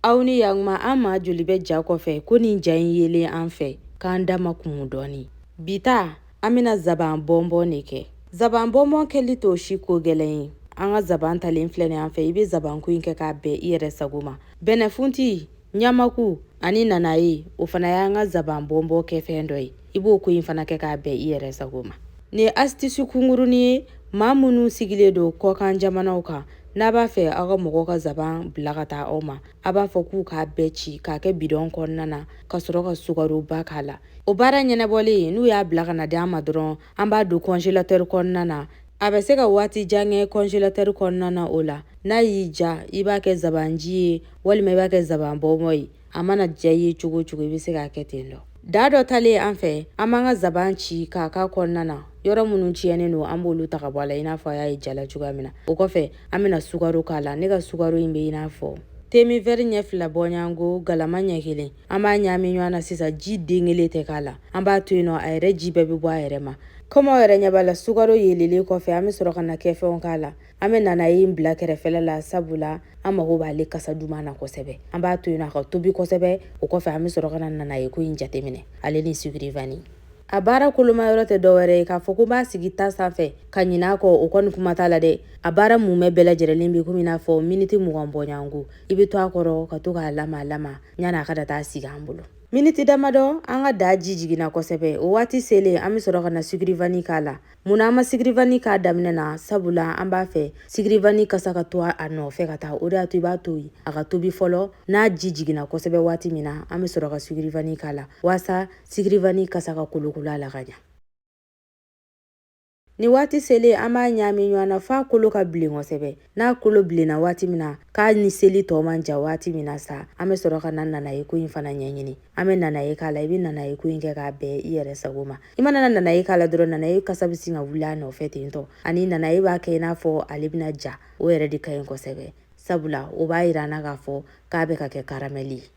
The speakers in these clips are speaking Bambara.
aw ni yan tuma an maa joli bɛ ja kɔfɛ ko nin ja in yelen an fɛ k'an da ma kumu dɔɔni bi ta an bɛna zaban bɔnbɔn de kɛ zaban bɔnbɔn kɛli t'o si ko gɛlɛn ye an ka zaban talen filɛ nin an fɛ i bɛ zabanko in kɛ k'a bɛn i yɛrɛ sago ma bɛnɛfunti ɲamaku ani nanaye o fana y'an ka zaban bɔnbɔn kɛfɛn dɔ ye i b'o ko in fana kɛ k'a bɛn i yɛrɛ sago ma nin ye asitisi kunkuruni ye maa minnu sigilen don kɔkan jamanaw kan n'a b'a fɛ aw ka mɔgɔw ka zaban bila ka taa aw ma a b'a fɔ k'u k'a bɛɛ ci k'a kɛ bidɔn kɔnɔna na ka sɔrɔ ka sukaroba k'a la o baara ɲɛnabɔlen n'u y'a bila ka na di an ma dɔrɔn an b'a don kɔnjelatɛri kɔnɔna na a bɛ se ka waati jan kɛ kɔnjelatɛri kɔnɔna na o la n'a y'i diya i b'a kɛ zabanji ye walima i b'a kɛ zaban bɔnbɔn ye a mana diya i ye cogo o cogo i bɛ se k'a kɛ ten dɔ daa dɔ talen an fɛ an b'an ka zaban ci k'a k'a kɔnɔna na yɔrɔ minnu tiɲɛnen don an b'olu ta ka bɔ a la i n'a fɔ a y'a ye ja la cogoya min na o kɔfɛ an bɛna sukaro k'a la ne ka sukaro in bɛ i n'a fɔ demi vɛri ɲɛ fila bɔɲɔgɔnko galama ɲɛ kelen an b'a ɲaami ɲɔgɔn na sisan ji den kelen tɛ k'a la an b'a to yen nɔ a yɛrɛ ji bɛɛ bɛ bɔ a yɛrɛ ma komi aw yɛrɛ ɲɛ b'a la sukaro yeelelen kɔfɛ an bɛ sɔrɔ ka na kɛfɛnw k'a la an bɛ nanaye in bila kɛrɛfɛla la sabu la an mago b'ale kasa duman na kosɛbɛ an b'a to yen a ka tobi kosɛbɛ o kɔfɛ an bɛ sɔrɔ ka na nanayeko in jateminɛ ale ni sigirivani a baara koloma yɔrɔ tɛ dɔwɛrɛ ye k'a fɔ ko b'a sigi ta sanfɛ ka ɲin'a kɔ o kɔni kuma t'a la dɛ a baara mumɛ bɛɛ lajɛrɛlen bɛ komi n'a fɔ miniti mugan bɔɲɔgɔnko i bɛ to a kɔrɔ ka to k'a lamaa lamaa yanni a ka da daa sigi an bolo miniti damadɔ an ka daa ji jiginna kosɛbɛ o waati selen an bɛ sɔrɔ ka na sigirivani k'a la Munna an ma sigirivani k'a daminɛ na sabula an b'a fɛ sigirivani kasa ka to a nɔfɛ ka taa o de y'a to i b'a to yen a ka tobi fɔlɔ n'a ji jiginna kosɛbɛ waati min na an bɛ sɔrɔ ka sigirivani k'a la waasa sigirivani kasa ka kolokolo a la ka ɲa nin waati selen an b'a ɲaami ɲɔgɔn na f'a kolo ka bilen kosɛbɛ n'a kolo bilenna waati min na k'a ni seli tɔ man jan waati min na sa an bɛ sɔrɔ ka na nanayeko in fana ɲɛɲini an bɛ nanaye k'a la i bɛ nanayeko in kɛ k'a bɛn i yɛrɛ sago ma i mana na nanaye k'a la dɔrɔn nanaye kasa bɛ sin ka wuli a nɔfɛ ten dɔ ani nanaye b'a kɛ i n'a fɔ ale bɛna ja o yɛrɛ de ka ɲi kosɛbɛ sabula o b'a yira an na k'a fɔ k'a bɛ ka kɛ karamɛli ye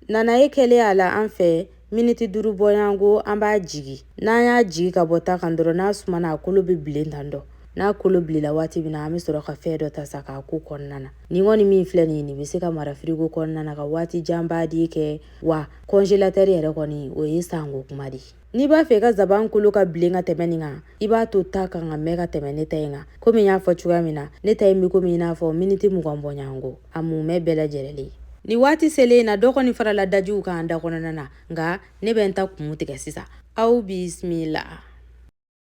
Nanaye kɛlen a la an fɛ miniti duuru bɔɲɔgɔnko an b'a jigi n'an y'a jigi ka bɔ ta kan dɔrɔn n'a sumana a kolo bɛ bilen tan dɔ n'a kolo bilela waati min na an bɛ sɔrɔ ka fɛn dɔ ta sa k'a k'o kɔnɔna na nin kɔni min filɛ nin ye nin bɛ se ka mara firigo kɔnɔna na ka waati janba de kɛ wa kɔnjelatɛri yɛrɛ kɔni o ye sanko kuma de n'i b'a fɛ i ka zaban kolo ka bilen ka tɛmɛ nin kan i b'a to ta kan ka mɛn ka tɛmɛ ne ta in kan komi n y'a fɔ cogoya min na ne ta in bɛ komi i n'a fɔ miniti mugan bɔɲɔgɔnko a mumɛ bɛɛ lajɛlen ye nin waati selen na dɔ kɔni farala dajiw kan da kɔnɔna na nka ne bɛ n ta kun tigɛ sisan aw bisimila